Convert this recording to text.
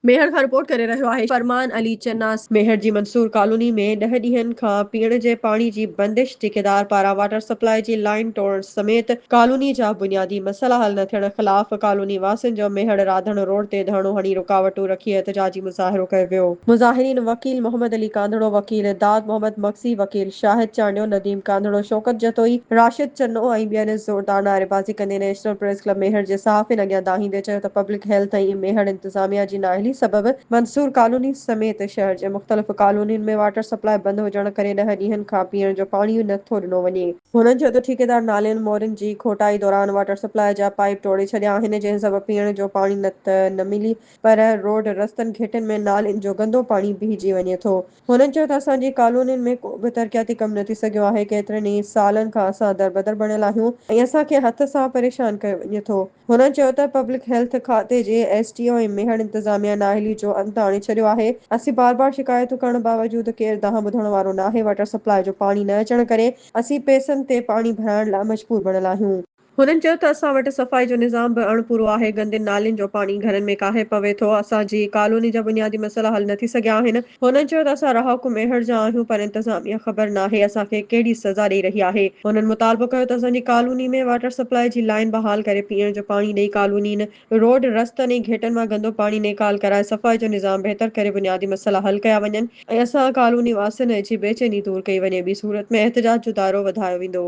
ميهڙ کان رپورٽ ڪري رهيو آهي فرمان علي چناس. ميهڙ جي منصور ڪالوني ۾ ڏهه ڏينهن کان پيئڻ جي پاڻي جي بندش، ٺيڪيدار پاران واٽر سپلاء جي لائين ٽوڙڻ سميت ڪالوني جا بنيادي مسئلا حل نه ٿيڻ خلاف ڪالوني واسين جو ميهڙ راڌڻ روڊ تي ڌرڻو هڻي رڪاوٽون رکي احتجاجي مظاهرو ڪيو ويو. مظاهرين وڪيل محمد علي ڪانڌڙو، وڪيل داد محمد مگسي، وڪيل شاهد چانڊيو، نديم ڪانڌڙو، شوڪت جتوئي، راشد چنو ۽ ٻين زوردار نعريبازي ڪندي نيشنل پريس ڪلب ميهڙ جي صحافين اڳيان دانهيندي چيو ته پبلڪ هيلٿ ۽ ميهڙ انتظاميا جي نااهلي سبب منصور ڪالوني سميت شهر جي مختلف ڪالونين ۾ واٽر سپلاء بند هجڻ ڪري ڏهه ڏينهن کان پيئڻ جو پاڻي نه ٿو ڏنو وڃي. هنن چيو ته ٺيڪيدار نالين مورين جي کوٽائي دوران واٽر سپلاء جا پائيپ ٽوڙي ڇڏيا آهن جنهن سبب پيئڻ جو پاڻي نه ته نه ملي پر روڊ رستن گهٽين ۾ نالين جو گندو پاڻي بيهجي وڃي ٿو. هنن چيو ته اسان جي ڪالونين ۾ ڪو به ترقياتي ڪم نه ٿي سگهيو آهي ڪيترن ئي سالن کان اسان دربدر بڻيل آهيون ۽ اسان کي هٿ سان پريشان ڪيو وڃي ٿو. هن چيو ته پبلڪ هيلٿ کاتي جي ايس ڊي او ۽ ميهڙ انتظاميا نااهلي جو انت آڻي ڇڏيو آهي، اسين بار بار شڪايتون ڪرڻ باوجود ڪير دانهن ٻڌڻ وارو ناهي، واٽر سپلاء جو پاڻي نه اچڻ ڪري اسين پيسن تي پاڻي ڀرائڻ لاء مجبور بڻيل آهيون. هنن چيو ته اسان وٽ صفائي جو نظام به اڻ پورو آهي، گندين نالين جو پاڻي گهرن ۾ ڪاهي پوي ٿو، اسان جي ڪالوني جا بنيادي مسئلا حل نه ٿي سگهيا آهن، هنن چيو ته اسان رهاڪو ميهڙ جا آهيون پر انتظاميه خبر ناهي اسان کي ڪهڙي سزا ڏئي رهي آهي، هنن مطالبو ڪيو ته اسان جي ڪالوني ۾ واٽر سپلاء جي لائين بحال ڪري پيئڻ جو پاڻي ڏئي ڪالونين، روڊ، رستن ۽ گهيٽن مان گندو پاڻي نيڪال ڪرائي صفائي جو نظام بهتر ڪري بنيادي مسئلا حل ڪيا وڃن ۽ اسان ڪالوني واسين جي بيچيني دور ڪئي وڃي ٻي صورت ۾ احتجاج جو دائرو وڌايو ويندو.